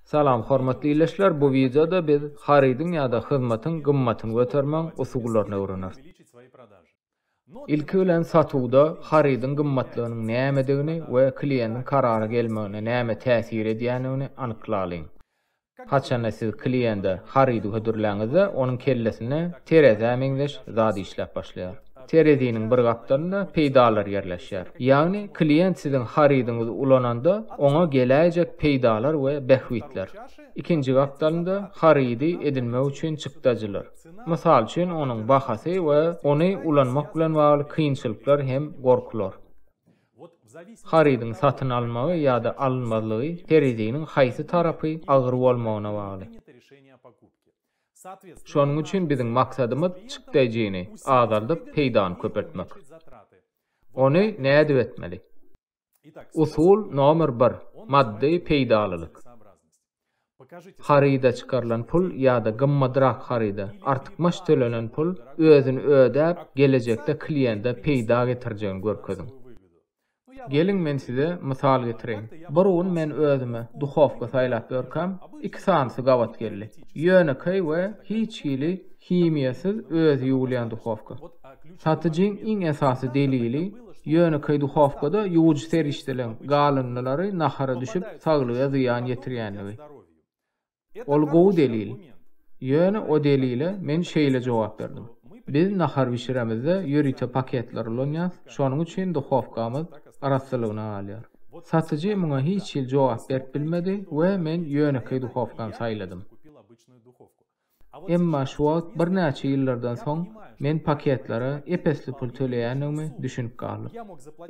Salam hormatly ildeşler bu wideoda biz harydyň ýa-da hyzmatyň gymmatyny götermeň usullaryny öwreneris. Ilki bilen satuwda harydyň gymmatlygynyň nämedigini we kliýendiň karara gelmegine näme täsir edýändigini anyklalyň. Haçanda siz kliýende harydy hödürläňizde onuň kellesinde terezä meňzeş zat işläp başlaýar. Tereziniň bir gapdalynda peýdalar ýerleşýär. Ýagny klient siziň harydyňyzy ulananda oňa geläýjek peýdalar we bähbitler. Ikinji gapdalynda harydy edinmek üçin çykdajylar. Mysal üçin onuň bahasy we ony ulanmak bilen bagly kynçylyklar hem gorkular. Harydyň satyn alynmagy ýa-da alynmazlygy tereziniň haýsy tarapy agyr bolmagyna bagly. Şonuň üçin biziň maksadymyz çykdaýjyny azaldyp, peýdany köpeltmek. Ony nädip etmeli? Usul nomer bir, maddy peýdalylyk. Haryda çykarylan pul ýa-da gymmadrak haryda artykmaç tölenen pul özüni ödäp, gelejekde kliýente peýda getirjegini görkeziň. Geliň men size mysal getireýin. Bir gün men özüme duhowka saýlap ýörkäm, iki sanysy gabat geldi. Ýönekeý we hiç hili himiýasyz özi ýuwulýan duhowka. Satyjyň iň esasy delili, ýönekeý duhowkada ýuwujy serişdeleň galyndylary nahara düşüp, saglyga zyýan ýetirýändigi. Ol gowy delil. Ýöne o delile men şeýle jogap berdim, Biz nahar bişiremizde ýörite paketler ulanýas, şonuň üçin duhowkamyz arassalygyna galýar. Satyjy muňa hiç hili jogap berip bilmedi we men ýönekeý duhowkany saýladym. Emma şu wagt birnäçe ýyllardan soň men paketlere ep-esli pul töleýändigimi düşünip galdym.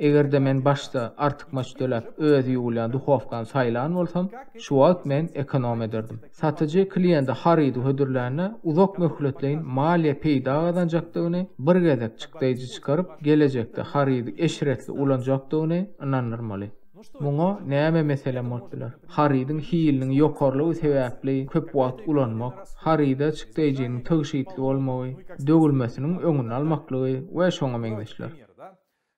Eger-de men başda artykmaç töläp özi ýuwulýan duhowkany saýlan bolsam, Şu wagt men ekonom ederdim. Satyjy kliýente harydy hödürlände, uzak möhletleýin maliýe peýda gazanjakdygyny, bir gezek çykdaýjy çykaryp, gelejekde harydy eşretli ulanjakdygyny ynandyrmaly. Muňa näme meselem bolup biler? Harydyň hiliniň ýokarylygy sebäpli köp wagt ulanmak, haryda çykdaýjynyň tygşytly bolmagy, döwülmesiniň öňüni almaklygy we şoňa meňzeşler.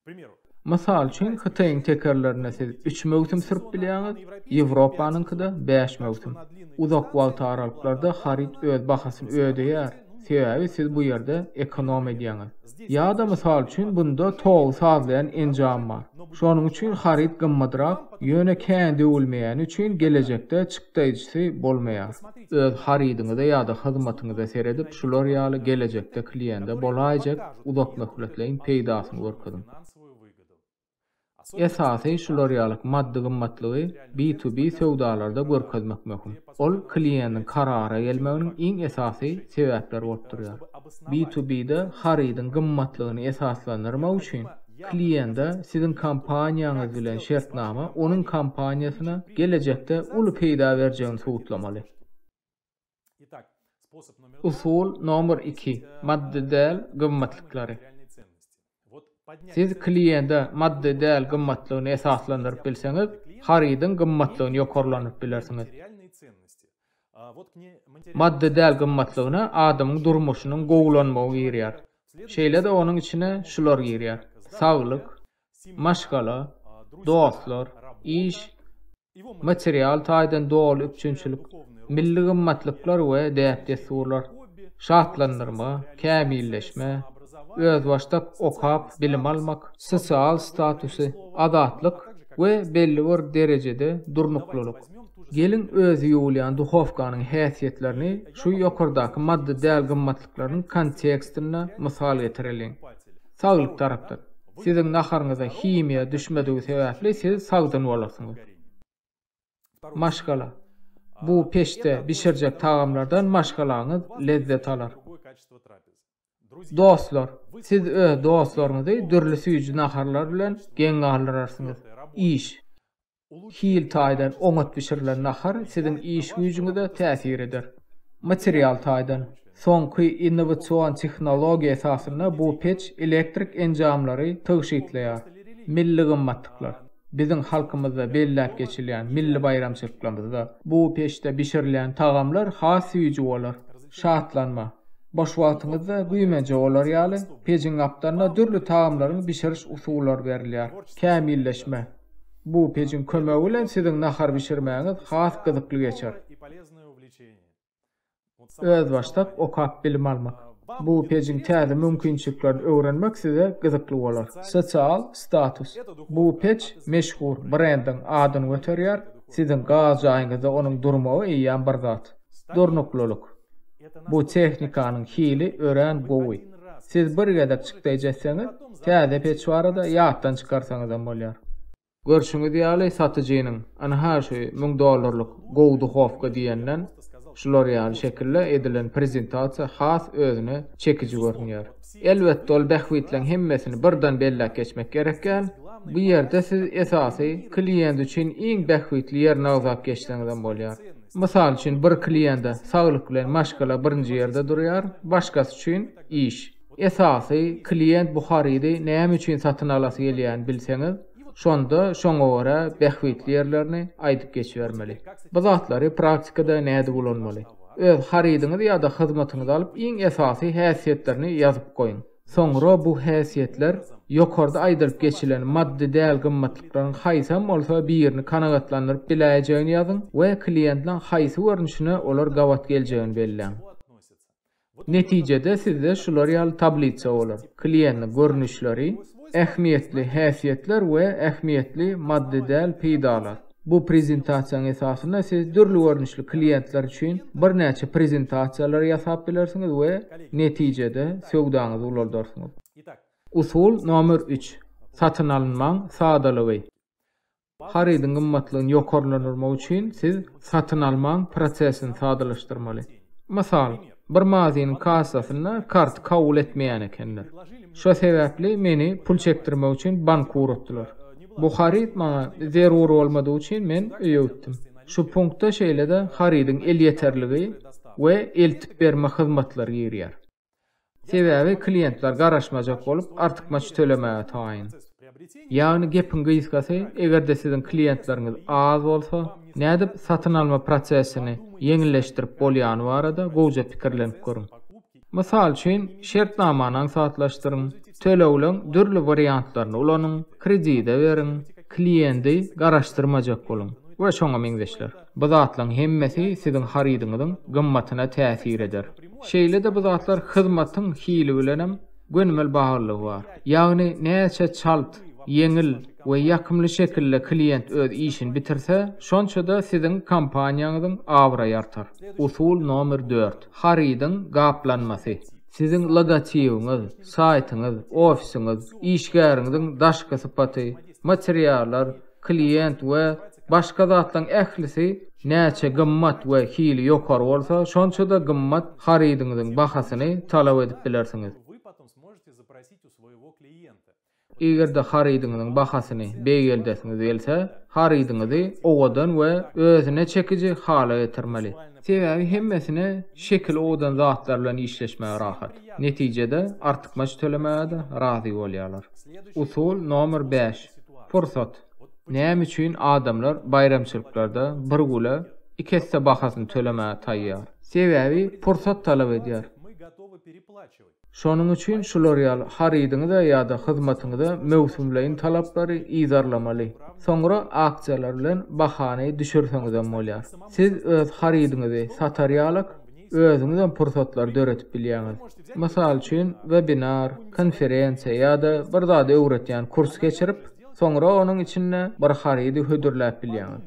Primeru. Mysal üçin Hytaýyň tekerlerine siz üç möwsüm sürüp bilýäňiz, Ýewropanyňkyda bäş möwsüm. Uzak wagt aralyklarda haryt öz bahasyny ödeýär, sebäbi siz bu ýerde ekonom edýäňiz. Ýa-da mysal üçin bunda togy sazlaýan enjam bar. Şonuň üçin haryt gymmadrak, ýöne kän döwülmeýäni üçin gelejekde çykdaýjysy bolmaýar. Öz harydyňyza ýa-da hyzmatyňyza seredip, şular ýaly gelejekde kliýende bolaýjak uzakmöhletleýin peýdasyny görkeziň. Esasy şular ýaly maddy gymmatlygy B2B söwdalarda görkezmek möhüm. Ol kliýendiň karara gelmeginiň iň esasy sebäpleri bolup durýar. B2B-de harydyň gymmatlygyny esaslandyrmak üçin, Kliýente siziň kompaniýaňyz bilen şertnama onuň kompaniýasyna gelejekde uly peýda berjegini subutlamali. Usul nomer iki, maddy däl gymmatlyklary. Siz kliýente maddy däl gymmatlygyny esaslandyryp bilseňiz, harydyň gymmatlygyny ýokarlandyryp bilersiňiz. Maddy däl gymmatlygyna adamyň durmuşynyň gowulanmagy girýär. Şeýle-de onuň içine şular girýär, saglyk, maşgala, dostlar, iş, material taýdan doly üpjünçilik, milli gymmatlyklar we däp-dessurlar, şatlandyrma, kämilleşme, özbaşdak okap bilim almak, sosial statusy, azatlyk we belli bir derejede durnuklylyk. Geliň özi ýuwulýan duhowkanyň häsiýetlerini şu ýokardaky maddy däl gymmatlyklaryň kontekstinde mysal getireliň. Saglyk tarapdan. Siziň naharyňyza himiýa düşmedigi sebäpli siz sagdyn bolarsyňyz. Maşgala. Bu peçde bişirjek tagamlardan maşgalaňyz lezzet alar. Dostlar. Siz öz dostlaryňyzy dürli süýji naharlar bilen geň galdyrarsyňyz. Iş. Hil taýdan oňat bişirilen nahar siziň iş-güýjüňize täsir eder. Material taýdan, soňky innowasion tehnologiýa esasynda bu peç elektrik enjamlary tygşytlaýar. Milli gymmatlyklar. Biziň halkymyzda belläp geçilýän milli baýramçylyklarymyzda bu peçde bişirilýän tagamlar has süýji bolar. Şatlanma. Boş wagtyňyzda güýmenje bolar ýaly, pejiň gapdalyna dürli tagamlaryň bişiriş usullary berilýär. Kämilleşme. Bu pejiň kömegi bilen siziň nahar bişirmäňiz has gyzykly geçer. Özbaşdak okap bilim almak. Bu pejiň täze mümkinçiliklerini öwrenmek size gyzykly bolar. Sosial status. Bu pej meşhur brendiň adyny göterýär, siziň gaz jaýyňyzda onuň durmagy eýýäm bir zat. Durnuklylyk. Bu tehnikanyň hili örän gowy. Siz bir gezek çykdaýjy etseňiz, täze peç barada ýatdan çykarsaňyzam bolýar. Görşüňiz ýaly satyjynyň, ynha şu müň dollarlyk gowy duhowka diýenden şular ýaly şekilde edilen prezentasiýa has özüne çekiji görünýär. Elbetde ol bähbitleň hemmesini birden belläp geçmek gerekgän, bu ýerde siz esasy kliýent üçin iň bähbitli ýerini agzap geçseňizem bolýar. Mysal üçin, bir kliýente saglyk bilen maşgala birinji ýerde durýar, başgasy üçin, iş. Esasy, kliýent bu harydy näme üçin satyn alasy gelýäni bilseňiz, şonda şoňa görä bähbitli ýerlerini aýdyp geçibermeli. Bu zatlary praktikada nädip ulanmaly? Öz harydyňyzy ýa-da hyzmatyňyzy alyp, iň esasy häsiýetlerini ýazyp goýuň. Soňra bu häsiýetler ýokarda aýdylyp geçilen maddy däl gymmatlyklaryň haýsam bolsa birini kanagatlandyryp biläýjegini ýazyň we kliýentiň haýsy görnüşine olar gabat geljegini belläň. Netijede sizde şular ýaly tablisa bolar, kliýentiň görnüşleri, ähmiýetli häsiýetler we ähmiýetli maddy däl peýdalar. Bu prezentasiýanyň esasynda siz dürli görnüşli kliýentler üçin birnäçe prezentasiýalary ýasap bilersiňiz we netijede söwdaňyzy ulaldarsyňyz. Usul nomer üç, Satyn alynmaň sadalygy. Harydyň gymmatlygyny ýokarlandyrmak üçin siz satyn almaň prosesini sadalaşdyrmaly. Mysal. Bir magaziniň kassasynda karty kabul etmeýän ekenler. Şo sebäpli meni pul çekdirmek üçin bank ugratdylar. Bu haryt maňa zerur bolmadygy üçin men öýügitdim. Şu punkta şeýle-de harydyň elýeterligi we eltip berme hyzmatlary girýär. Sebäbi kliýentler garaşmajak bolup, artykmaç tölemäge taýyn. Ýagny gepiň gysgasy, eger-de siziň klientleriňiz az bolsa, nädip satyn alma prosesini ýeňilleşdirip bolýany barada gowja pikirlenip görüň. Mysal üçin, şertnamany aňsatlaşdyryň, tölegleriň dürli wariantlaryny ulanyň, kredide beriň, klienti garaşdyrmajak boluň we şoňa meňzeşler. Bu zatlaryň hemmesi siziň harydyňyzyň gymmatyna täsir eder. Şeýle-de bu zatlar hyzmatyň hili bilenem gönümel baglylygy bar. Ýagny näçe çalt, ýeňil we ýakymly şekilde klient öz işini bitirse, şonça-da siziň kompaniýaňyzyň abraýy artar. Usul nomer dört, harydyň gaplanmasy. Siziň logotibiňiz, saýtyňyz, ofisiňiz, işgäriňiziň daşky sypaty, materiallar, klient we başga zatlaryň ählisi näçe gymmat we hili ýokary bolsa, şonça-da gymmat harydyňyzyň bahasyny talap edip bilersiňiz. Eger-de harydyňyzyň bahasyny beýgeldesiňiz gelse, harydyňyzy owadan we özüne çekiji hala getirmeli. Sebäbi hemmesine şekili owadan zatlar bilen işleşmäge rahat. Netijede artykmaç tölemäge-de razy bolýarlar. Usul nomer bäş, pursat. Näme üçin adamlar baýramçylyklarda bir güle iki esse bahasyny tölemäge taýýar? Sebäbi pursat talap edýär. Şonuň üçin şular ýaly harydyňyza ýa-da hyzmatyňyza möwsümleýin talaplary yzarlamaly. Soňra aksiýalar bilen bahany düşürseňizem bolýar. Siz öz harydyňyzy satar ýalyk, özüňizem pursatlar döredip bilýäňiz. Mysal üçin, webinar, konferensiýa ýa-da bir zady öwretýän kurs geçirip, soňra onuň içinde bir harydy hödürläp bilýäňiz.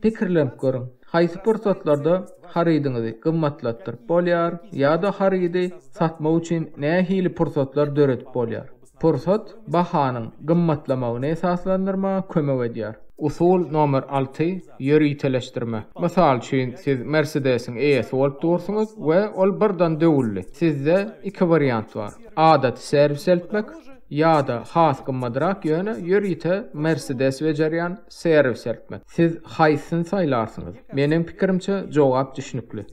Pikirlenip görüň, haýsy pursatlarda harydyňyzy gymmatlatdyryp bolýar ýa-da harydy satmak üçin nähili pursatlar döredip bolýar? Pursat bahanyň gymmatlamagyny esaslandyrmaga kömek edýär. Usul nomer alty, Ýöriteleşdirme. Mysal üçin, siz Mersedesiň eýesi bolup dursuňyz we ol birdan döwüldi. Sizde iki wariant bar, adaty serwis eltmek ýa-da has gymmadrak, ýöne ýörite Mersedes bejerýän serwis eltmek. Siz haýsyny saýlarsyňyz? Meniň pikirimçe, jogap düşnükli.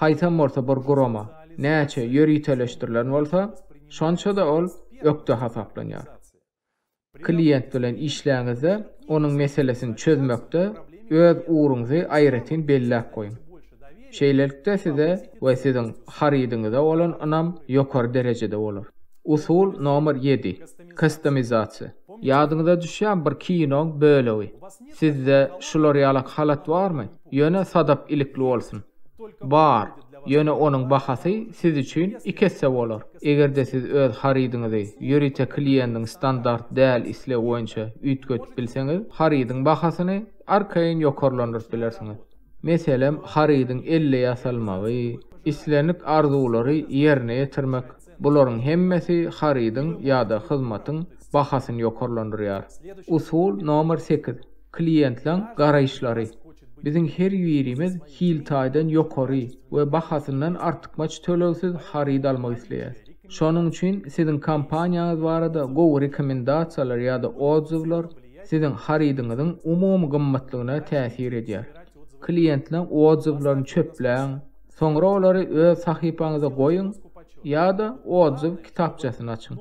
Haýsam bolsa bir gurama näçe ýöriteleşdirilen bolsa, şonça-da ol ökde hasaplanýar. Klient bilen işläňizde onuň meselesini çözmekde öz ugruňyzy aýratyn belläp goýuň. Şeýlelikde size we siziň harydyňyza bolan ynam ýokary derejede bolar. Usul nomer ýedi, Kastomizasiýa. Ýadyňyza düşýän bir kinoň bölegi. Sizde şular ýalak halat barmy? Ýöne sadap ilikli bolsun. Bar, ýöne onuň bahasy siz üçin iki esse bolar. Eger-de siz öz harydyňyzy ýörite kliýendiň standart däl islegi boýunça üýtgedip bilseňiz, harydyň bahasyny arkaýyn ýokarlandyryp bilersiňiz. Meselem, harydyň elle ýasalmagy, islendik arzuwlary ýerine ýetirmek, Bularyň hemmesi harydyň ýa-da hyzmatyň bahasyny ýokarlandyrýar. Usul nomer sekiz, Kliýentleň garaýyşlary. Biziň her birimiz hil taýdan ýokary we bahasyndan artykmaç tölegsiz haryt almak isleýäris. Şonuň üçin siziň kompaniýaňyz barada gowy rekomendasiýalar ýa-da otzuwlar siziň harydyňyzyň umumy gymmatlygyna täsir edýär. Kliýentleň otzuwlaryny çöpläň. Soňra olary öz sahypaňyza goýuň ýa-da odzuw kitapçasyny açyň.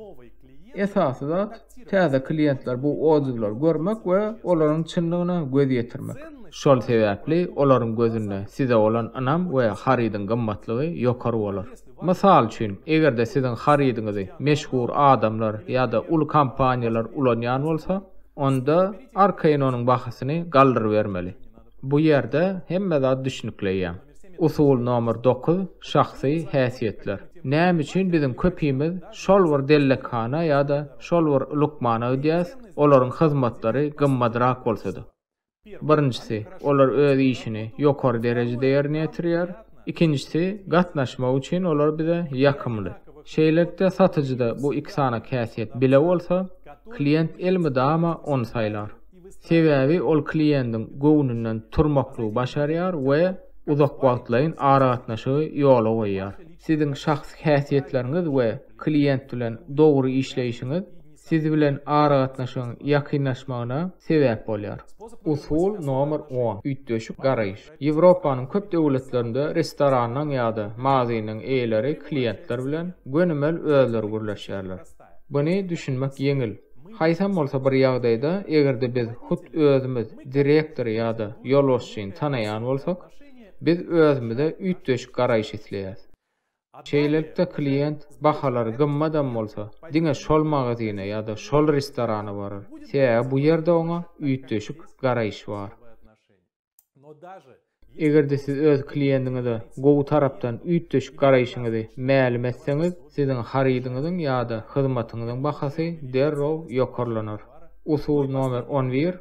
Esasy zat, täze kliýentler bu odzuwlary görmek we olaryň çynlygyna göz ýetirmek. Şol sebäpli olaryň gözünde size bolan ynam we harydyň gymmatlygy ýokary bolar. Mysal üçin, eger-de siziň harydyňyzy meşhur adamlar ýa-da uly kompaniýalar ulanýan bolsa, onda arkaýyn onuň bahasyny galdyrybermeli. Bu ýerde hemme zat düşnükleýär. Usul nomer dokuz, şahsy häsiýetler. Näme üçin biziň köpimiz şol bir dellekhana ýa-da şol bir lukmana gidýäs, olaryň hyzmatlary gymmadrak bolsa-da? Birinjisi, olar öz işini ýokary derejede ýerine ýetirýär. Ikinjisi, gatnaşmak üçin olar bize ýakymly. Şeýlelikde, satyjyda bu iki sanaky häsiýet bile bolsa, klient elmydama ony saýlar. Sebäbi ol kliýendiň göwnünden turmaklygy başarýar we uzak wagtlaýyn aragatnaşygy ýola goýýar. Siziň şahsy häsiýetleriňiz we kliýent bilen dogry işleýşiňiz siz bilen aragatnaşygyň ýakynlaşmagyna sebäp bolýar. Usul nomer on, üýtgeşik garaýyş. Ýewropanyň köp döwletlerinde restoranyň ýa-da magazynyň eýeleri kliýentler bilen gönümel özleri gürleşýärler. Buny düşünmek ýeňil. Haýsam bolsa bir ýagdaýda, eger-de biz hut özümiz direktory ýa-da ýolbaşçyny tanaýan bolsak, biz özümize üýtgeşik garaýyş isleýäs. Şeýlelikde, klient, bahalary gymmadam bolsa, diňe şol magazyna ýa-da şol restorana barar, sebäbi bu ýerde oňa üýtgeşik garaýyş bar. Eger-de siz öz kliendiňize gowy tarapdan üýtgeşik garaýşyňyzy mälim etseňiz, siziň harydyňyzyň ýa-da hyzmatyňyzyň bahasy derrew ýokarlanar. Usul nomer on bir,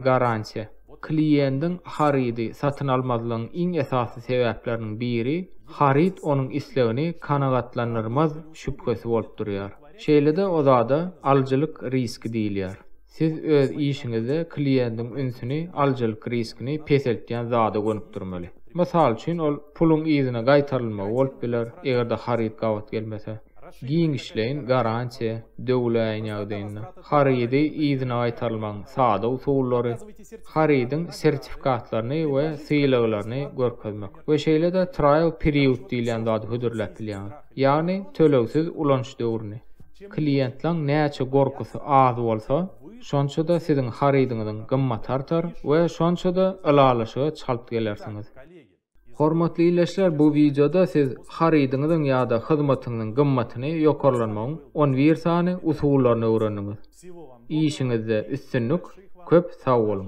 Garantiýa. Kliendiň harydy satyn almazlygyň iň esasy sebäpleriniň biri, haryt onuň islegini kanagatlandyrmaz şübhesi bolup durýar. Şeýle-de o zada alyjylyk riski diýilýär. Siz öz işiňizde kliýentiň ünsüni alyjylyk riskini peseltýän zada gönükdirmeli. Mysal üçin, ol puluň yzyna gaýtarylmagy bolup biler, eger-de haryt gabat gelmese. Giňişleýin garantiýa döwüläýen ýagdaýynda, harydy yzyna gaýtarylmagyň sada usullary, harydyň sertifikatlaryny we sylaglaryny görkezmek we şeýle-de trial period diýilýän zady hödürläp bilýäňiz. Ýagny tölegsiz ulanyş döwrüni. Kliýentlaň näçe gorkusy az bolsa, şonça-da siziň harydyňyzyň gymmaty artar we şonça-da ylalaşyga çalt gelersiňiz. Hormatly ildeşler bu wideoda siz harydyňyzyň ýa-da hyzmatyňyzyň gymmatyny ýokarlanmagyň on bir sany usullaryny öwrendiňiz. Işiňizde üstünlik, köp sag boluň!